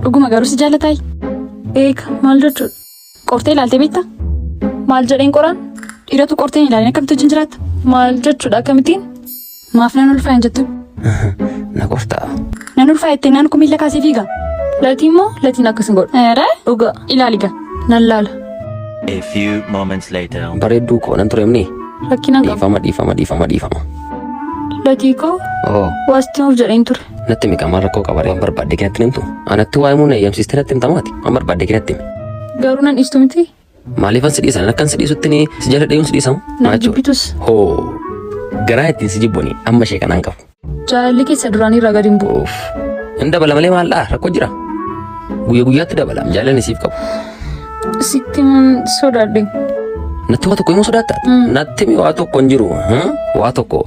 Dhuguma garuu si jaalataay? Eega maal jechuudha? Qortee ilaaltee beektaa? Maal jedheen qoraan? Dhiiratu qortee hin ilaalin akkamitti wajjin jiraatta? Maal jechuudha akkamittiin? Maaf nan ulfaa hin jettu? Na qortaa. Nan ulfaa jettee naan kun miila kaasee fiiga. Latii immoo latiin akkas hin godhu. Eera dhugaa ilaali gaa nan laala. A few moments later. Bareedduu koo nan tureemni. Rakkinaan qabu. Dhiifama dhiifama dhiifama dhiifama. Latii koo Oo. waasti nuuf jedheen ture. Natti himi qaamaan rakkoo qabaree waan barbaadde kinatti himtu. Anatti waa himuu na eeyyamsiiste natti himtamaati. Waan barbaadde kinatti himi. Garuu nan dhiistu miti. Maaliifan si dhiisan akkan si dhiisutti ni si jala dhiyuun si dhiisamu. Na jibbitus. Hoo garaa ittiin si jibboni amma ishee kanaan qabu. Jaalalli keessa duraanii irraa gadi hin bu'u. Uuf. Hin dabala malee maal dhaa rakkoo jira. Guyya guyyaatti dabala jaalalli siif qabu. Sitti himuun sodaadhe. Natti waa tokko himuu sodaatta. Natti himi waa tokko hin jiru. Waa tokko.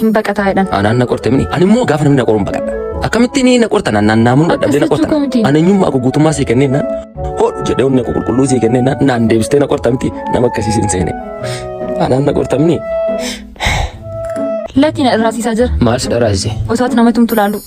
hin baqataa jedhan. Anaan na qorte mini. Ani immoo gaafa namni na qoruun baqadha. Akkamitti ni na qortan annaan naamuun dadhabdee na Akkasitti qortan. kooti. Ani eenyummaa koo guutummaa sii kenneen naan hodhu jedhee onnee koo qulqulluu sii kenneen naan naan deebistee na qorta miti nama akkasii sin seene. Anaan na qorta mini. Lakkii na dhirraasiisaa jira. Maal si dharaasise? Osaatti nama tumtu laalu.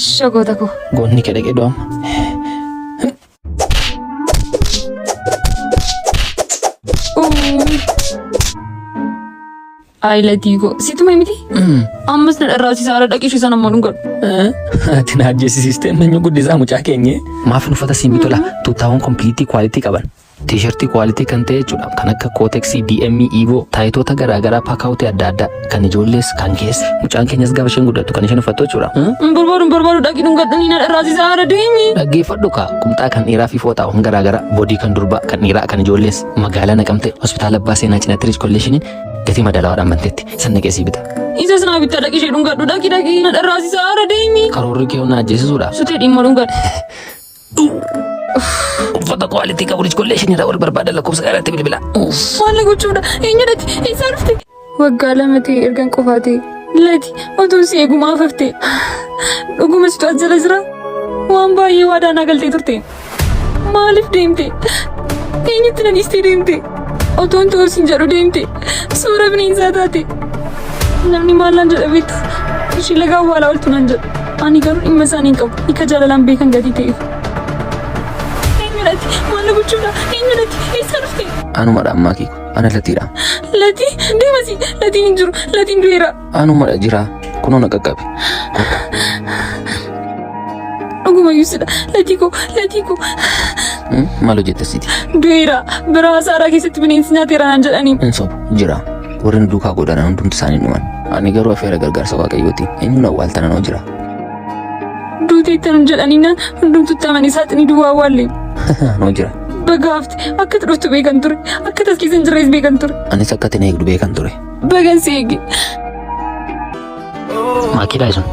Ishoo goota koo. Goonni kee dhaqee do'ama. Ayi latii koo. Situ mee miti? Ammas na dharraasisaa haala dhaqishu sana ammoo dhungadhu. Ati na ajjeesisiistee manyu guddisaa mucaa keenye. Maaf uffata siin bitola tuuttaawwan kompiiliitii kwaalitii qaban. Tiishartii kwaalitii kan ta'e jechuudha. Kan akka kooteksii, DM, Evo, taayitoota garaagaraa paakaawutii adda addaa kan ijoollees kan keessa. Mucaan keenyas gaafa isheen guddattu kan isheen uffattu jechuudha. Hin barbaadu hin barbaadu dhaqii dhungadhanii na dharraasisaa haadha deemi. Dhaggeeffadhu kaa qumxaa kan dhiiraa fi fooxaawwan garaagaraa boodii kan durbaa kan dhiiraa kan ijoollees magaalaa naqamte hospitaala abbaa seenaa cinaatti riich kolleeshiniin gatii madaalawaadhaan bantetti sanna qeesii bita. Isa sinaa bittaa dhaqii ishee dhungadhu dhaqii dhaqii na dharraasisaa haadha deemi. Karoorri kee humna ajjeesisuudha. Sutee dhimma dhungadhu. Uffata quality qabu lij kollee ishinirraa wal barbaada lakkoofsa kanatti bilbila. Maal gochuudha? Eenyu dhati? Eessaa dhufte? Waggaa lama ta'e ergan qofaa ta'e. Lati otuun si eegumaa hafte. Dhuguma situ as jala jira. Waan baay'ee waadaa naa galtee turte. Maaliif deemte? Eenyutti na dhiistee deemte? Otuun ta'uu sin jedhu deemte. Suura bineensaa taate. Namni maal naan jedha beektu? Ishii lagaa awwaalaa ooltu naan jedhu. Ani garuu dhimma isaanii hin qabu. Ika jaalalaan beekan gatii ta'eef. Eenyudhati? Maal gochuudha? Eenyudhati? Eessa dhufte? Anumadha ammaa keeku. Ana latiidha. Latii? Deemasi! Latiin hin jiru. Latiin du'eera. Anumadha jira. Kunoo na qaqqabe. Dhuguma yuusidha. Latii koo! Latii koo! Hmm? Maal hojjetta siti? Du'eera. Biraa saaraa keessatti bineensi nyaateera naan jedhaniin. Hin sobu. Jira. Warri nu duukaa godhanan hundumti isaanii dhuman. Ani garuu afeera gargaarsa Waaqayyooti. Inni nu awwaaltana noo jira. Duuti itti hin jedhaniinaan hundumtu itti amanii saaxinii duwwaa awwaalle. Noo jira. Baga hafte akka itti dhuftu beekan ture. Akka taskiisa hin jirrees beekan ture. Anis akka itti na eegdu beekan ture. Baga si eege. Maakiidhaa sun.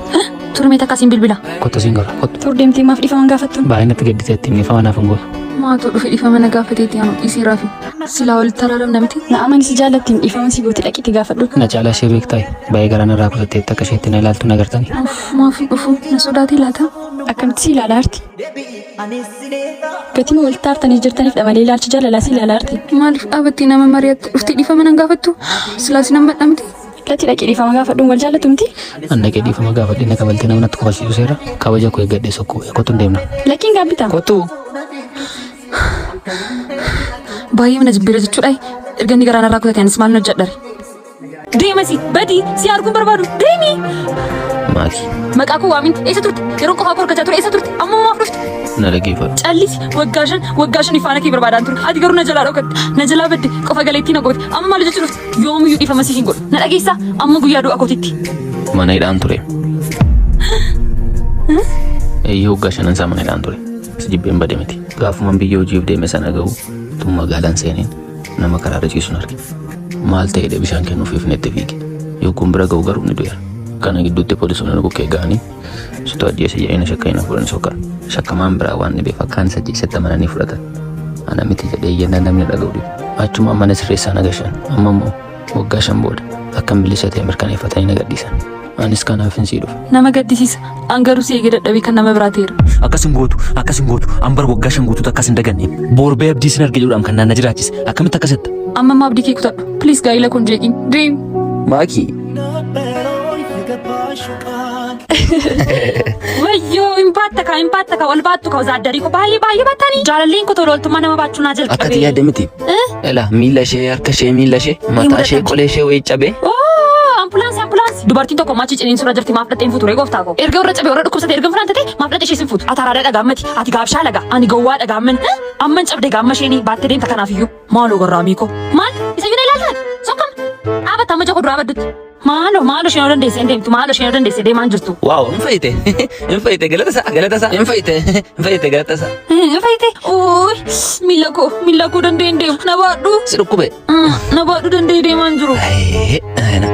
Turmee takka siin bilbila. Kottu siin godha. Kottu. Tur deemtee maaf dhifaman gaafattu? Baay'ee natti gadditeetti inni faana naaf hin gootu. Maatuu dhufe dhifama na gaafateeti anu dhisee raafi. Silaa walitti taraaram namti. Na amani si jaallattiin dhifama si gooti dhaqite gaafadhu. Na caalaa ishee beektaay. Baay'ee garaa narraa kutatteetti akka isheetti na ilaaltu na gartani. Uff maafii dhufu na sodaatee laata? Akkamitti si ilaala arti? Gatiin walitti aartanii jirtaniif dha malee ilaalchi jaalalaa si ilaala arti. Maaliif dhaabattee nama mari'atte dhuftee dhifama nan gaafattu? Silaas nan badhamte. Dhaqi dhaqi dhiifama gaafadhu wal jaallattu miti. An dhaqee dhiifama gaafadhe na kabaltee nama natti kofalsiisu seera kabaja koo eeggadhe sokkuu kottu hin deemna. Lakkiin gaabbitaa. Kottu Baay'ee mana jibbiira jechuudha. Erga inni garaa narraa kutate anis maal na hojjedhare. Deemasi badii si arguu barbaadu deemi. maali Maqaa koo waamin eessa turte? Yeroo qofaa koo argachaa ture eessa turte? Amma maaf dhufte? na dhaggeeffadhu. Callisi waggaa shan waggaa shan ifaana kee barbaadaan ture. Ati garuu na jalaa dhokatte. Na jalaa badde qofa galeettii na goote. Amma maal hojjechuu dhufte? Yoomiyyuu dhiifama siif hin godhu. Na dhageessaa? Amma guyyaa du'a kootitti. Mana hidhaan ture. Eeyyee hoggaa shanan isaa mana hidhaan ture. Si jibbeen bade miti. Gaafuman biyya hojiif deeme sana gahu tun magaalaan seeneen nama karaarra ciisun arge. Maal ta'eedha bishaan kennuuf ifnetti fiige. Yogguun bira gahu garuu ni du'eera. Kana gidduutti poolisoonni nu bukkee ga'anii Situ ajjeese jedhanii shakka hin fuudhan soka. Shakkamaan biraa waan dhibeef akka ani isa ajjeesetti amananii fudhatan. Ana miti jedhee iyyannaa namni dhaga'u dhibe. Achuma mana sirreessaa na gashan. Amma immoo waggaa shan booda akkan bilisa ta'e mirkaneeffatanii na gadhiisan. Anis kanaaf hin sii dhufe. Nama gaddisiisa. An garuu si eegee dadhabee kan nama biraa ta'eera. Akkas hin gootu, akkas hin gootu. An bara waggaa shan guutuutti akkas hin daganne. Boorbee abdii sin arge jedhuudhaan kan naan na jiraachise. Akkamitti akkas jetta? Amma immoo abdii kee kutadhu. Please gaa'ila kun jeeqiin. Dream. Maakii Wayyoo hin baatta kaa hin baatta kaa ol baattu kaa zaaddarii koo baay'ee baay'ee baatanii jaalalleen koo tola oltummaa nama baachuu naa jalqabe. Akkati yaadde miti. Ela miila ishee harka ishee miila ishee mataa ishee qolee ishee wayii cabee. Oo ambulaansii ambulaansii dubartiin tokko maachii ciniin suuraa jirti maaf dhaxxeen fuuture gooftaa koo erga warra cabee warra dhukkubsate erga fulaan tatee maaf dhaxxee ishee sin fuutu ataraadhaa dhagaammati ati gaabshaa laga ani gowwaa dhagaamman amman cabde gaamma isheenii baattee deemta kanaaf iyyuu maaloo gorraamii koo maal isa yuuna ilaaltaa sokkam dhaabata amma joko duraa baddutti Maalo maalo isheen yoo dandeesse hin deemtu maalo isheen yoo dandeesse deemaan jirtu. Waaw hin fayyite hin fayyite galata isaa galata isaa hin fayyite hin fayyite galata isaa. Hin fayyite uuy miila koo miila koo danda'e hin deemu na baadhu. Si dhukkube. Na baadhu danda'e deemaan jiru. Ayee ayina.